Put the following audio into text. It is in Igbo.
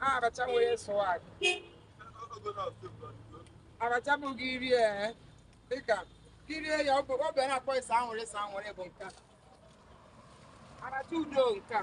Abacha nwere swag. Abacha bụghị iri ee. dịka kirie ya ọ bụ- ọ bụ ihe a na-akpọ ịsa anwụrị ịsa anwụrị bụ nke a aracha udo nke a